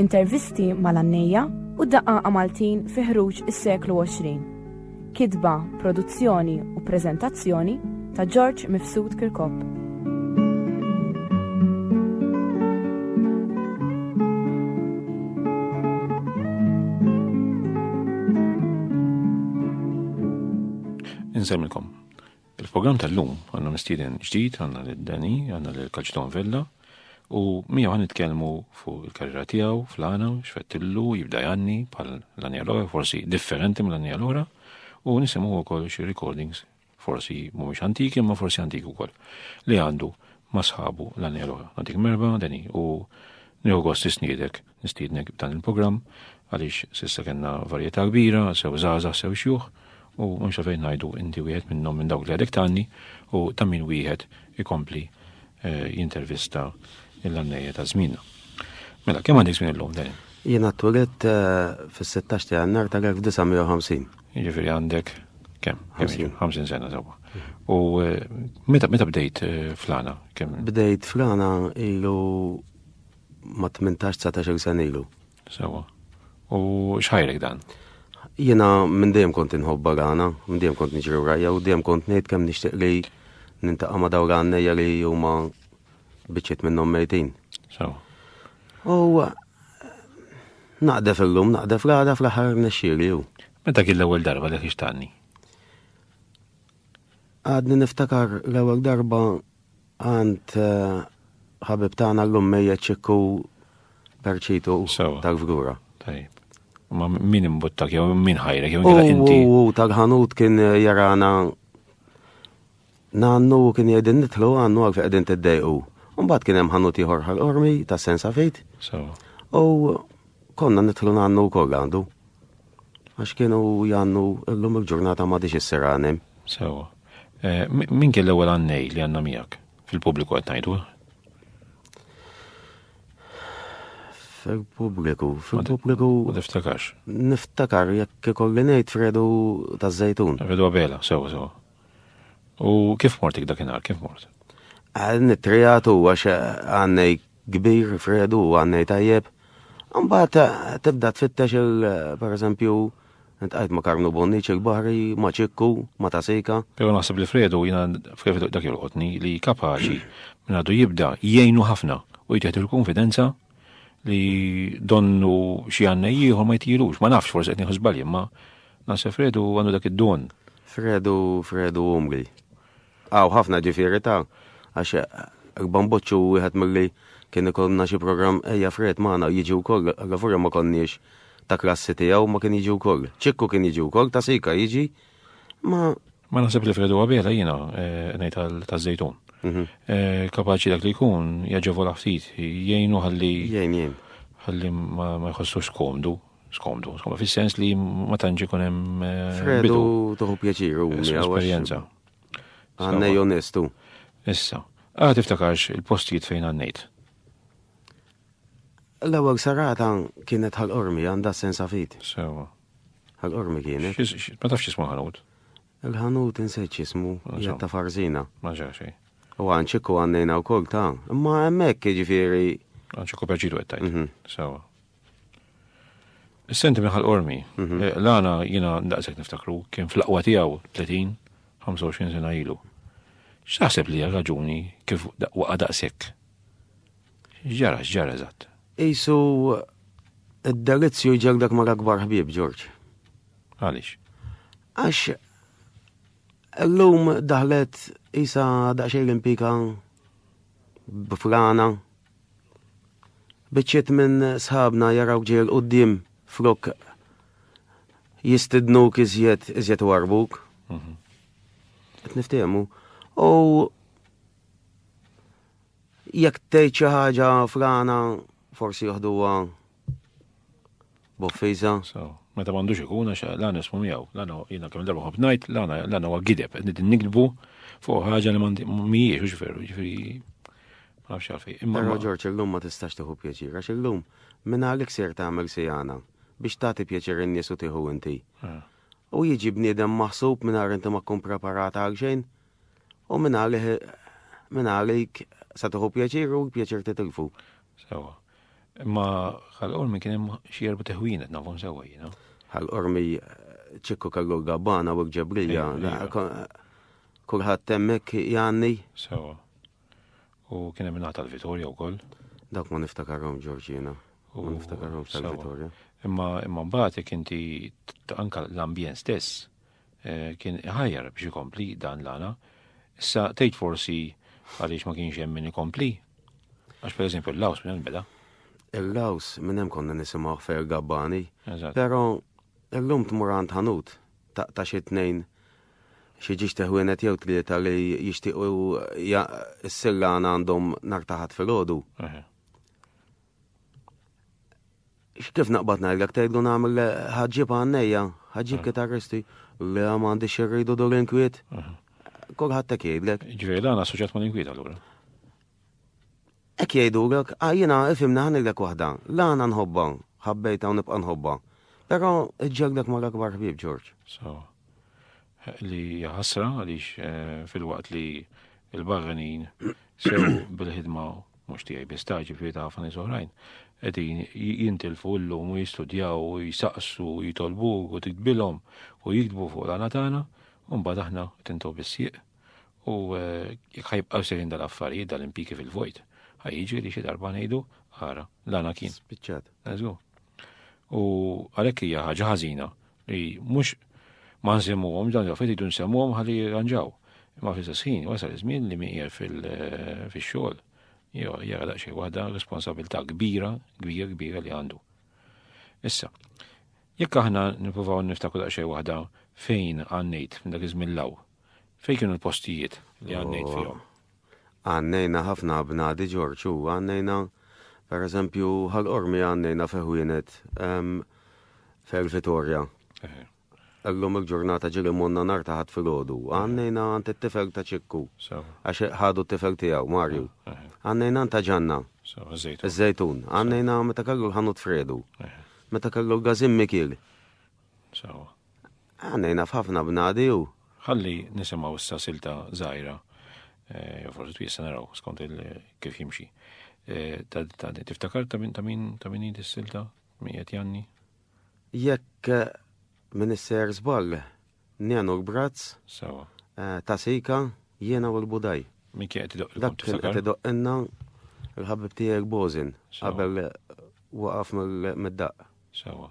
Intervisti mal-għannejja u d-daqqaqa Maltin fi ħruġ is-seklu 20. Kitba, produzzjoni u preżentazzjoni ta' George Mifsud Kirkop. insemmilkom. Il-programm tal-lum għandna mistieden ġdid, għandna lil Danny, għandna lil Kaċton Vella u miegħu ħan nitkellmu fuq il-karriera tiegħu fl-għana, x'fettillu jibda janni bħal l-għanja l-ora, forsi differenti mill-għanja l-ora u nisimgħu wkoll xi recordings forsi mhumiex antiki imma forsi antiki wkoll li għandu ma' sħabu l-għanja l-ora. Għandik merba, Danny, u nieħu gost isniedek Nistiednek b'dan il-programm għaliex s'issa kellna varjetà kbira, sew żgħażagħ sew xjuħ, u m'hemmx għalfejn ngħidu inti wieħed minnhom minn dawk li għadek tgħanni u ta' min wieħed ikompli jintervista lill-għannejja ta' żmienna. Mela, kemm għandek żmien illum, Daniel? Jiena twelidt fis-16 ta' Jannar tal-1950. Jiġifieri għandek kemm? 50. 50 sena sewwa. U meta bdejt flana? Bdejt flana ilu ma' tmintax dsatax-il sena ilu. Sewwa. U x'ħajrek dan? Jiena minn dejjem kont inħobb barana, minn dejjem kont niġri wrajja u dejjem kont ngħid kemm nixtieq li nintaqa' ma' dawn l-għannejja li huma biċċiet minnhom mejtin. Sewwa. U naqdef illum, naqdef l-għada fl-aħħar nexxieli hu. Meta kien l-ewwel darba li ħixtanni? Għadni niftakar l-ewwel darba Għand ħabib tagħna llum mejjet Ċikku Perċitu tal-Fgura. Tajjeb. Ma min imbuttak jew min ħajrek jew kien inti. U tal-ħanut kien jarana nannu kien jgħidin nitlu għannu għal qegħdin tiddejqu. Mbagħad kien hemm ħanut ieħor ħal-qormi ta' sensa fejt. U konna nitlu nannu wkoll għandu. Għax kienu jannu llum il-ġurnata ma diġ is-seranem. Sewa. Eh, min kien l-ewwel għannej li għandna miegħek? Fil-pubbliku qed ngħidu. Fil-pubbliku, fil-pubbliku. Ma niftakarx. Niftakar jekk ikolli ngħid Fredu taż-Żejtun. Fredu Abela, sew sew. U kif mortik dakinhar, kif mort? Nittrijatu għax għannej kbir, Fredu, għannej tajjeb. Mbagħad tibda tfittex il per eżempju, Ntqajt ma' Karmnu Bonniċ il-Baħri, ma' Ċikku, ma' Tasejka. Pero naħseb li Fredu, jiena Fredu dak jolqotni, li kapaċi minn għadu jibda jgħinu ħafna u jtieħdu l-kunfidenza li donnu xi għannej ieħor ma jtilux, ma nafx forsi qed nieħu żbalji, imma naħseb Fredu għandu dak id-don. Fredu, Fredu umri. Hawn ħafna ġifieri ta' għax Erba' Mboċċi hu wieħed milli kien ikollna xi programm Ejja Fred magħna jiġi wkoll, allavura ma konniex ta' klassi tiegħu ma kien jiġi wkoll. Ċikku kien jiġi wkoll, Ta' Sika jiġi, ma. Ma naħseb li Fred huwa biela jiena ngħid taż-Żejtun. Kapaċi dak li jkun jaġevola ftit, jgħinu ħalli. Jgħin, jgħin. Ħalli ma jħossux komdu. Skomdu, skomdu, fis-sens li ma tantx ikun hemm. Fredu toħu pjaċir u esperjenza. Għannej onestu. Issa, għad ah, tiftakarx il-postijiet fejn għannejt. L-ewwel sarata kienet ħal-qormi għandha sensa fit. Sewa. Ħal-qormi kienet. Ma tafx jismu ħanut. Il-ħanut insejt jismu jgħat ta' farzina. Ma ġaxi. U għanċiku għannejna u kol ta' imma hemmhekk ġifieri. Għanċiku pjaċitu għettajt. Mhm. Sewa. Senti minn ħal-qormi, mhm. eh, l-għana jina daqsek niftakru, kien fl-aqwa tijaw 30, 25 sena ilu. X'taħseb li raġuni kif waqa daqsek? Ġara, ġara eżatt. Isu id-delizzju ġerdak ma akbar ħbib, Ġorġ. Għalix? Għax l-lum daħlet isa daqxej l-impika b'frana Biċċiet minn sħabna jaraw ġejl qudiem flok jistidnuk iżjed iżjed warbuk. Mhm. Qed niftehmu. U jekk tgħid xi ħaġa frana forsi joħduha b'offiża. So, meta m'għandux ikun għax l-għana ismu miegħu, l-għana jiena kemm darba ħobb ngħid, l-għana huwa gideb, qed nidin nikdbu fuq ħaġa li mhijiex u ġifieri, ġifieri ma nafx għalfej. Imma Però Ġorġ illum ma tistax tieħu pjaċir għax illum minn għalik ser tagħmel sijana biex tagħti pjaċir in-nies u tieħu inti. Ah. U jiġi bniedem maħsub mingħajr inti ma tkun preparata għal xejn. U minn għalih minn għalik sa tieħu pjaċir u pjaċir titilfu. Sewa. Imma ħal-qormi kien hemm xi erba' teħwienet nafhom sewwa jiena. Ħal-qormi ċikku kellu l-gabbana u l-ġebrija. Kulħadd hemmhekk jgħanni. Sewa. U kien hemm ingħata l-Vitorja wkoll. Dak ma niftakarhom Ġorġina. U niftakarhom tal-Vitorja. Imma imma mbagħad jekk inti anka l-ambjent stess kien iħajjar biex ikompli dan l-għana. Issa tgħid forsi għaliex ma kienx hemm min ikompli. Għax per eżempju l-laws minn hemm beda. Il-laws minn hemm konna nisimgħu fer gabbani. Però illum tmur għand ħanut taqta' xi tnejn xi ġiex teħwienet jew tlieta li jixtiequ s-sillana għandhom nartaħat fil-ħodu. Kif naqbad ngħidlek tgħid gon għamel le ħaġġib għannejja, ħaġġib kitarristi, le ma għandix irridu dur inkwiet. Kulħadd hekk jgħidlek. Ġifieri dan assoċjat mal-inkwiet allura. Hekk jgħidulek, ah, jiena ifimna ħanilek waħda, la għana nħobba, ħabbejta u nibqa' nħobba. Però ġġegdek ma l-akbar ħbieb Ġorġ. So, li ħasra għaliex eh, fil-waqt li il-barranin sew bil-ħidma mhux tiegħi biss ta' ġifieri ta' ħafna nies oħrajn, qegħdin jintilfu llum u jistudjaw u jsaqsu u jitolbu u tiktbilhom u jiktbu fuq l-għana tagħna, u mbagħad aħna tintu bis-sieq. U eh, jekk ħajbqgħu sejrin dal-affarijiet dal-impiki fil-vojt, ħajġi li xi darba ngħidu ara l-għana kien. Spiċċat. U għalhekk hija ħaġa ħażina Li mhux ma nsemmuhomx dawn il-affarijiet jridu nsemmuhom ħalli jirranġaw. Imma fl-istess ħin wasal iż-żmien li min qiegħed fil-xogħol jara daqsxejn waħda responsabilità kbira, kbira, kbira li għandu. Issa, jekk aħna nippruvaw niftakru daqsxejn waħda fejn għannejt minn dak iż-żmien law, Fejn kienu l-postijiet li għannejt fihom? Għannejna ħafna bnadi Ġorġ u għannejna per eżempju ħal-qormi għannejna feħwienet fer Vitorja. Allum il-ġurnata ġili monna nar taħat fil-ħodu. Għannejna għant il-tifel ta' ċikku. Għax ħadu t-tifel tijaw, Marju. Għannejna għant ġanna. Zejtun. Għannejna meta kallu l-ħanut fredu. Meta kallu l-gazim mikil. Għannejna f'ħafna bnadi u. Ħalli nisimaw issa silta zaħira, eh, jew forsi twisa naraw skont kif jimxi. Eh, ta' tiftakar ta' min ta' min ta' min jidi s-silta, min jgħet janni? Jekk eh, minn isser zball, njenu l-brazz, ta' sika, jiena u l-budaj. Min kien qed Dak kien qed idoqqinna l-ħabib tiegħek Bozin qabel waqaf mid-daq. Sawa.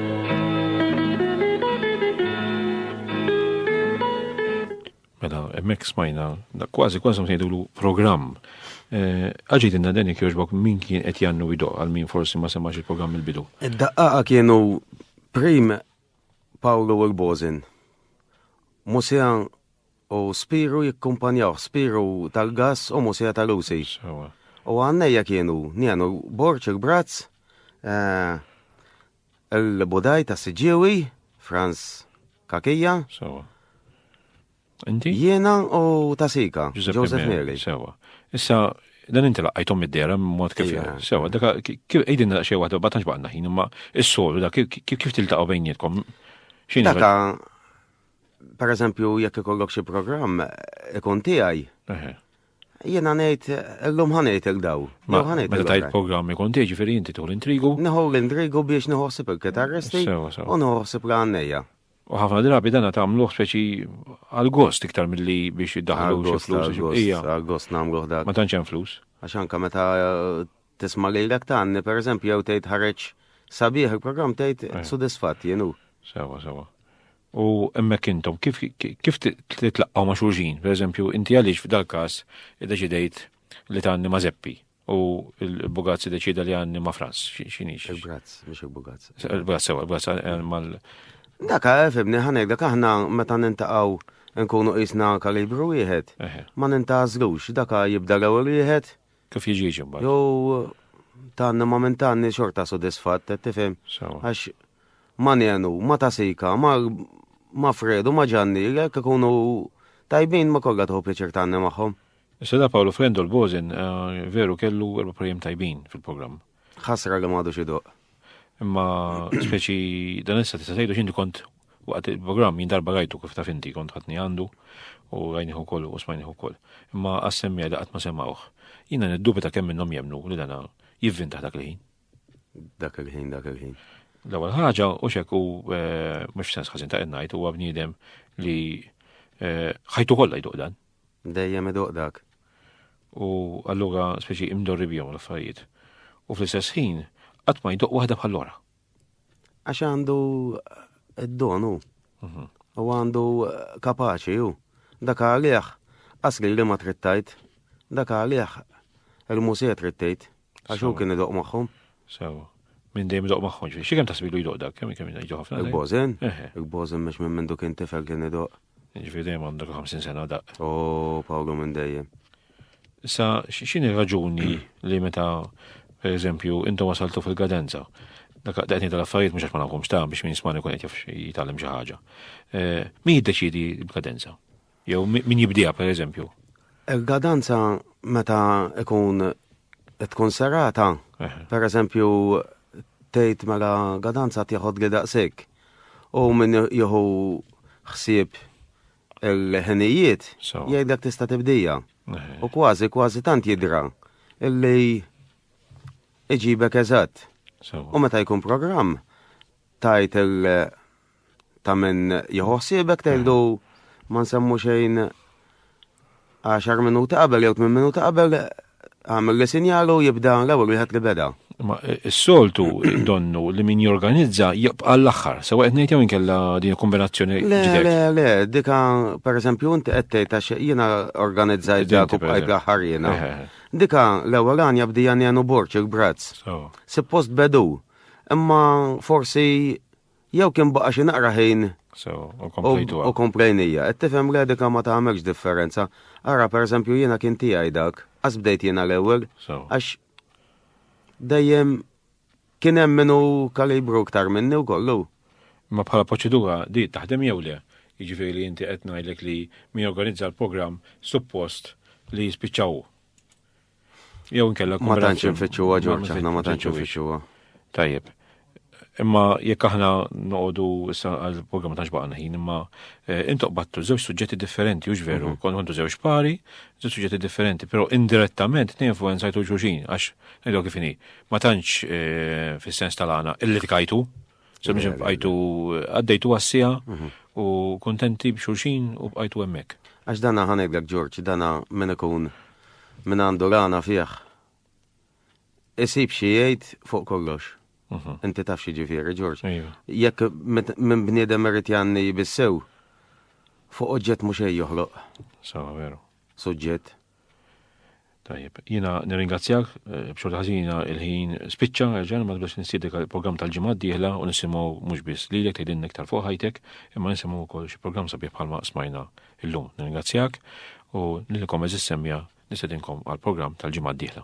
Mela, emmek smajna, kważi kważi ngħidulu programm. Eh, Għaġid inna deni kjoġbok min kien qed jannu ido għal min forsi ma semax il-programm il-bidu. Id-daqqaqa kienu prim Paolo Urbozin, Musean U spiru jikkumpanjawh, spiru tal-gass u musija ta' Lucy. Sewa. U għannejja kienu, nienu, Borċ il-Brazz, il-Budaj ta' Siġġiewi, Franz Kakija. Sewa. Inti? Jiena u ta' Sika, Joseph Meli. Sewa. Issa, dan inti laqqajtom mid-dera mod kif sewa, daka kif qegħdin xi waħda ma tantx baqgħna ħin, imma is-solu dak kif tiltaqgħu bejnietkom? X'inhi? Daka Per eżempju, jekk ikollok xi programm ikun tiegħi. Jiena ngħid illum ħanejt il daw. Ma ħanejt il tajt programm ikun tiegħi ġifieri inti tħol intrigu. Neħu l-intrigu biex neħosib il-kitarristi u neħosib l-għannejja. U ħafna drabi dana tagħmluh speċi għal-gost iktar milli biex iddaħlu xi flus. Għal-gost nagħmluh dak. Ma tantx hemm flus. Għax anke meta eh, Tisma' lilek tgħanni pereżempju jew tgħid ħareġ sabiħ il-programm tgħid eh. sudisfatt jien hu. Sewa, sewa. U hemmhekk intom kif kif titlaqgħu ma' xulxin, pereżempju inti għaliex f'dal-każ iddeċidejt li tgħanni ma' Zeppi u l-Bugazz deċida li għanni ma' Franz, xinix? Il-Bugazz, mux il-Bugazz. Il-Bugazz, sewa, il-Bugazz eh, mal. Daka, eh, fibni, ħanek, dak aħna meta nintaqaw nkunu isna kalibru wieħed, ma nintazlux, daka jibda l-ewwel wieħed, Kif jiġix imbagħad? Jew tanni ma minn tanni xorta sodisfatt, qed tifhem? Għax ma nenu, ma tasika, ma ma fredu, ma ġanni, jekk ikunu tajbin ma kollha tħu pjaċir tanni magħhom. Sena Pawlu Frendu l-Bozin eh, veru kellu erba' projjem tajbin fil-programm. Ħasra li m'għadux iduq. Imma speċi dan issa tista' tgħidu x'inti kont waqt il-programm jien darba rajtu kif taf inti kont ħatni għandu u rajniħu wkoll u smajniħu wkoll. Imma għas-semmija li qatt ma semgħuh. Jiena niddubita kemm minnhom jemnu li dana jivvintaħ dak il-ħin. Dak il-ħin, dak il-ħin. L-ewwel ħaġa u xek u eh, mhux sens ħażin ta' ngħid huwa bniedem li eh, ħajtu kollha jduq dan. Dejjem iduq dak. U allura speċi imdorri bihom l-affarijiet. U fl-istess ħin qatt ma jduq waħda bħal ora. Għax għandu id-donu. Mhm. U għandu kapaċi u dak għalih asli li ma trittajt. Dak għalih il-mużiet rittejt. Għax hu kien idoq magħhom. Sewa. Minn dejjem idoq magħhom ġifieri. Xi kemm tasbilu jdoq dak, kemm kemm jdoq ħafna. Il-bożen? Il-bożen mhux minn mindu kien tifel kien idoq. Ġifieri dejjem għandek 50 sena daq. O, Pawlu minn dejjem. Issa, x'inhi raġuni li meta, per eżempju, intom wasaltu fil-gadenza, dak daqni tal-affarijiet mhux għax ma nafhomx ta' biex minn smani kun qed jitgħallem xi ħaġa. Eh, min jiddeċidi l-kadenza? Jew min jibdiha pereżempju? Il-gadanza meta ikun tkun serata, pereżempju tgħid mela gadanza tieħod li daqsik. U min jieħu ħsieb il-ħinijiet jgħidlek tista' tibdija. U kważi kważi tant jidra illi iġibek eżatt. U meta jkun programm tajt il- ta' min jħossibek tgħidlu ma nsemmu xejn 10 minuti qabel jew 8 minuti qabel għamil li sinjalu jibda l-ewwel wieħed li beda. Ma eh, s-soltu donnu li min jorganizza jibqa l-axħar, sewa qed ngħid jew inkella din kombinazzjoni. Le, le, le, dika pereżempju inti qed tgħid għax jiena organizzajt dak u bqajt l-aħħar jiena. Eh, eh, dika l-ewwel għan jabdi jagħnu borċ il-brazz. Suppost bedu. Imma forsi jew kien baqa xi naqra ħin u komplejnija. Qed tifhem redika ma tagħmilx differenza. Ara pereżempju jiena kien tiegħi dak, għas bdejt jiena l-ewwel, għax dejjem kien hemm minnu kalibru ktar minni u kollu. Ma bħala proċedura di taħdem jew le, jiġifieri li inti qed ngħidlek li mi organizza l-programm suppost li jispiċċaw. Jew inkella Ma tantx infittxuha Ġorġ, aħna ma tantx infittxuha. Tajjeb. Imma jekk aħna noqogħdu issa għall-programm ta' xbaqna ħin, imma eh, intoq battu żewġ suġġetti differenti, hux veru, mhm. kont kontu żewġ pari, żewġ suġġetti differenti, però indirettament ninfluenzajtu xulxin għax ngħidu kif inhi. Ma tantx eh, fis-sens tal-għana illi tkajtu. Semmiġi bqajtu għaddejtu għassija mhm. u kontenti b'xulxin u bqajtu hemmhekk. Għax dana ħanedlek Ġorġ, dana minn ikun minn għandu rana fih. Isib xi jgħid fuq kollox. Mhm. Inti taf xi ġifieri Ġorġ. Jekk minn bniedem irid janni bissew fuq oġġett mhux joħloq. Sawa veru. Suġġett. Tajjeb, jina nirringrazzjak, eh, b'xorta ħażina il-ħin spiċċa, ġan ma tbiex nistiedek il-programm tal-ġimgħa d-dieħla u nisimgħu mhux biss lilek tgħidilna iktar fuq ħajtek, imma nisimgħu wkoll xi programm sabiħ bħalma smajna illum. Nirringrazzjak u nilkom eżis semmja nistedinkom għal-programm tal-ġimgħa d-dieħla.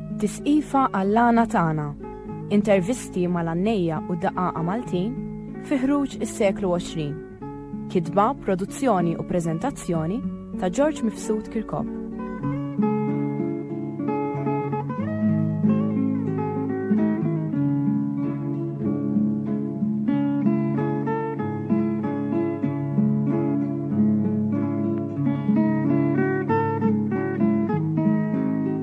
Tisqifa għall-għana tagħna, intervisti mal-għannejja u daqaqa Maltin fi ħruġ is-seklu 20. Kitba, produzzjoni u preżentazzjoni ta' George Mifsud Kirkop.